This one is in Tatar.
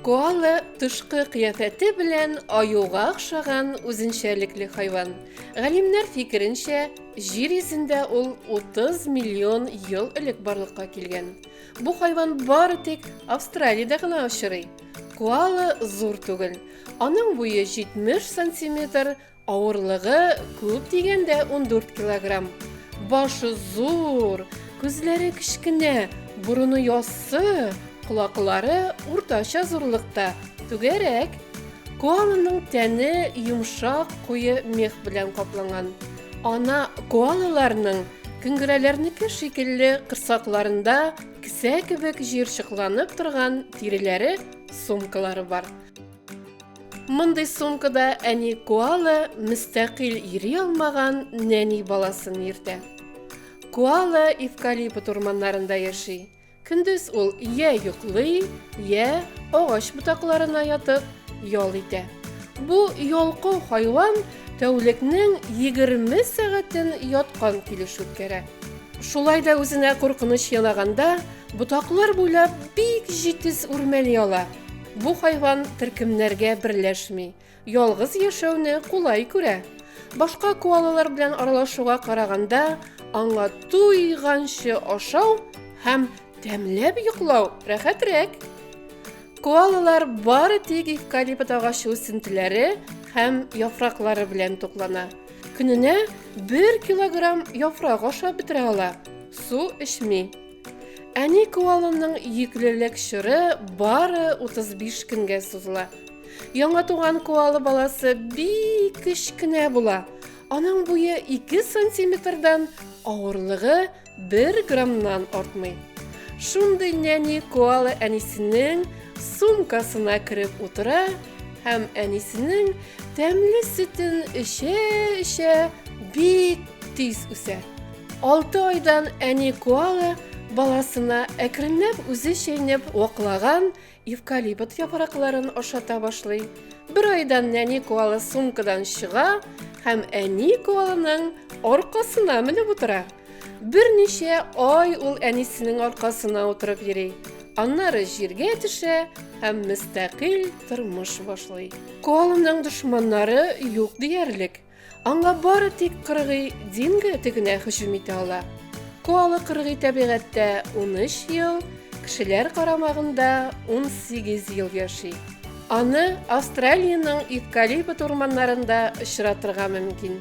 Коала тышкы кыяфәте белән аюга охшаган үзенчәлекле хайван. Галимнәр фикеренчә, җир йөзендә ул 30 миллион ел элек барлыкка килгән. Бу хайван бары тик Австралиядә гына очрый. Коала зур түгел. Аның буе 70 сантиметр, авырлыгы күп дигәндә 14 килограмм. Башы зур, күзләре кечкенә, борыны яссы, колаклары уртача зурлыкта, түгәрәк. Коаланың тәне йомшак, куе мех белән капланган. Ана коалаларның көнгерәләрнеке шикелле кырсакларында Кесә кебек җыерчыкланып торган тиреләре сумкалары бар. Мондый сумкада әни коала мөстәкыйль йөри алмаган нәни баласын йөртә. Коала эвкалипт урманнарында яши. Көндез ул йә йоклый, йә агач ботакларына ятып ял итә. Бу ялкау хайван Тәүлекнең егерме сәгатен яткан килеш үткәрә. Шулай да үзенә куркыныч ялаганда, ботаклар буйлап бик җитез үрмәли ала. Бу хайван төркемнәргә берләшми, ялгыз яшәүне кулай күрә. Башка коалалар белән аралашуга караганда, аңа туйганчы ашау һәм тәмләп йоклау рәхәтрәк. Коалалар бары тик эвкалипт агачы үсентеләре һәм яфраклары белән туклана. Көненә 1 килограмм яфрак ашап бетерә ала, су эчми. Әни коаланың йөклелек чоры бары 35 көнгә сузыла. Яңа туган коала баласы бик кечкенә була. Аның буе 2 сантиметрдан, авырлыгы Бер граммнан артмый. Шундый нәни коала әнисенең сумкасына кереп утыра һәм әнисенең тәмле сөтен эчә-эчә бик тиз үсә. Алты айдан әни коала баласына әкренләп үзе чәйнәп ваклаган Евкалипт яфракларын ашата башлый. Бер айдан нәни коала сумкадан чыга һәм әни коалының аркасына менеп утыра. Берничә ай ул әнисенең аркасына утырып йөри. Аннары җиргә төшә һәм мөстәкыйль тормыш башлый. Коалының дошманнары юк диярлек. Аңа бары тик кыргый динго тегенә һөҗүм итә ала. Коала кыргый табигатьтә 13 ел, кешеләр карамагында 18 ел яши. Аны Австралиянең эвкалипт урманнарында очратырга мөмкин.